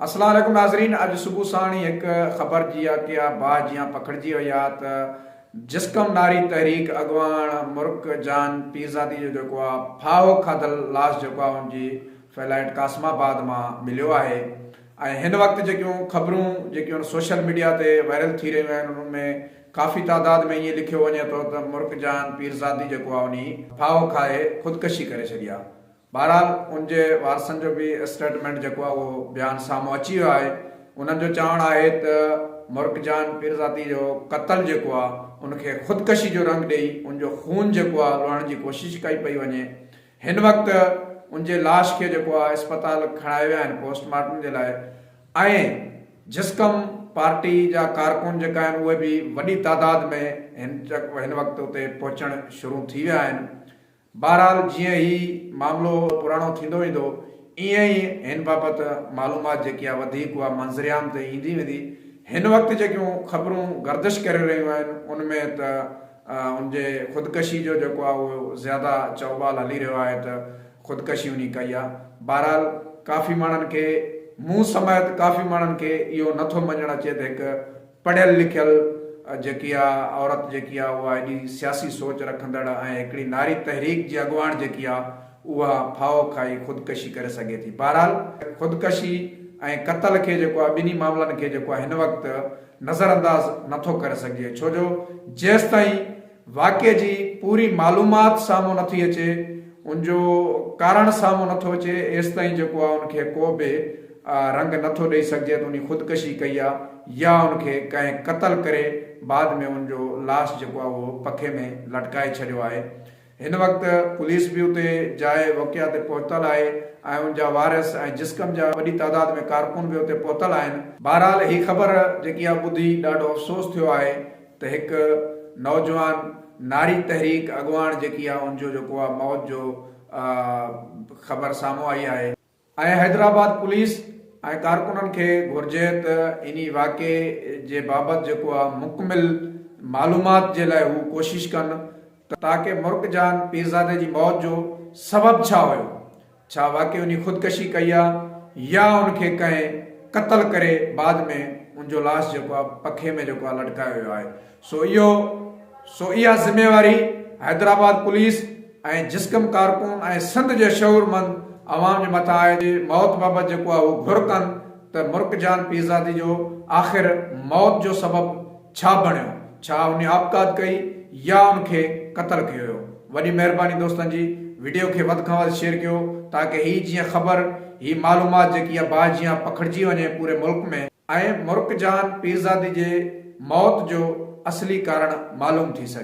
السلام عليڪم ناظرين اڄ صبح ساڻ ئي هڪ خبر جيا ڪيا باهه جيان پکڙجي وئي آ ته جسقم ناري تحريڪ اڳواڻ مرڪ جان پيرزادي جو جيڪو آ ڦاهو کاڌل لاش جيڪو آ ان جي فيلائيٽ قاسم آباد مان مليو آهي ۽ هن وقت جيڪيون خبرون جيڪيون سوشل ميڊيا تي وائرل ٿي رهيون آهن انهن ۾ ڪافي تعداد ۾ ائين لکيو وڃي ٿو ته مرڪ جان پيرزادي جيڪو آ انهي ڦاهو کائي خودڪشي ڪري ڇڏي آ بهرحال ان جي وارثن جو به اسٽيٽمينٽ جيڪو آهي اهو بيان سامهون اچي ويو آهي انهن جو چوڻ آهي ته مرڪ جان پيرزادي جو قتل جيڪو آهي ان کي خودڪشي جو رنگ ڏئي ان جو خون جيڪو آهي لهڻ جي ڪوشش ڪئي پئي وڃي هن وقت ان جي لاش کي جيڪو آهي اسپتال کڻائي ويا آهن پوسٽ مارٽم جي لاء ۽ جسقم پارٽي جا ڪارڪن جيڪا آهن اهي به وڏي تعداد ۾ هن وقت اتي پهچڻ شروع ٿي ويا آهن بهرحال جيئن هي معاملو پراڻو ٿيندو ويندو ايئن ئي هن بابت معلومات جيڪي آهي وڌيڪ اها منظرعام تي ايندي ويندي. هن وقت جيڪيون خبرون گردش ڪري رهيون آهن ان ۾ ته ان جي خودڪشي جو جيڪو آهي اهو زياده چئوٻال هلي رهيو آهي ته خودڪشي انهي ڪئي آهي. بهرحال ڪافي ماڻهن کي مون سميت ڪافي ماڻهن کي اهو نٿو مڃڻ اچي ته هڪ پڙهيل لکيل جيڪي آ عورت جيڪي آ اها ايڏي سياسي سوچ رکندڙ ۽ هڪڙي ناري تحريڪ جي اڳواڻ جيڪي آ اها ڦاهو کائي خودڪشي ڪري سگهي ٿي بهرحال خودڪشي ۽ قتل کي جيڪو آ ٻنهي معاملن کي جيڪو آ هن وقت نظرانداز نٿو ڪري سگهجي ڇو جو جيستائين واقعي جي پوري معلومات سامهون نٿي اچي، ان جو ڪارڻ سامهون نٿو اچي، ايستائين جيڪو آ ان کي ڪو به رنگ نٿو ڏئي سگهجي ته انهي خودڪشي ڪئي آ يا ان کي ڪنهن قتل ڪري بعد ۾ ان جو لاش جيڪو آ اهو پکي ۾ لٽڪائي ڇڏيو آهي. هن وقت پوليس به اتي جاء وقعا تي پهتل آهي ۽ ان جا وارث ۽ جسقم جا وڏي تعداد ۾ ڪارڪن به اتي پهتل آهن. بهرحال هي خبر جيڪي آ ٻڌي ڏاڍو افسوس ٿيو آهي. ته هڪ نوجوان ناري تحريڪ اڳواڻ جيڪي آهي ان جو جيڪو آهي موت جو خبر سامهون آئي آهي. ۽ حيدرآباد پوليس ۽ ڪارڪنن کي گهرجي ته انهي واقعي جي بابت جيڪو آهي مڪمل معلومات جي لاء هو ڪوشش ڪن ته تاڪه مرڪ جان پيرزادي جي موت جو سبب ڇا هيو ڇا واقعي انهي خودڪشي ڪئي آ يا ان کي ڪنهن قتل ڪري بعد ۾ ان جو لاش جيڪو آ پکي ۾ جيڪو آ لٽڪايو ويو آهي سو اهو سو اها ذميواري حيدرآباد پوليس ۽ جسقم ڪارڪن ۽ سنڌ جي شعورمند عوام جي مٿان آهي جي موت بابت جيڪو آ اهو گهر ڪن ته مرڪ جان پيرزادي جو آخر موت جو سبب ڇا بڻيو ڇا ان آپگات ڪئي يا ان کي قتل ڪيو ويو وڏي مهرباني دوستن جي وڊيو کي وڌ کان وڌ شيئر ڪيو تاڪه هي جيئن خبر هي معلومات جيڪي آ باهه جيان پکڙجي وڃي پوري ملڪ ۾. ۽ مرڪ جان پيرزادي جي موت جو اصلي ڪارڻ معلوم ٿي سگهي.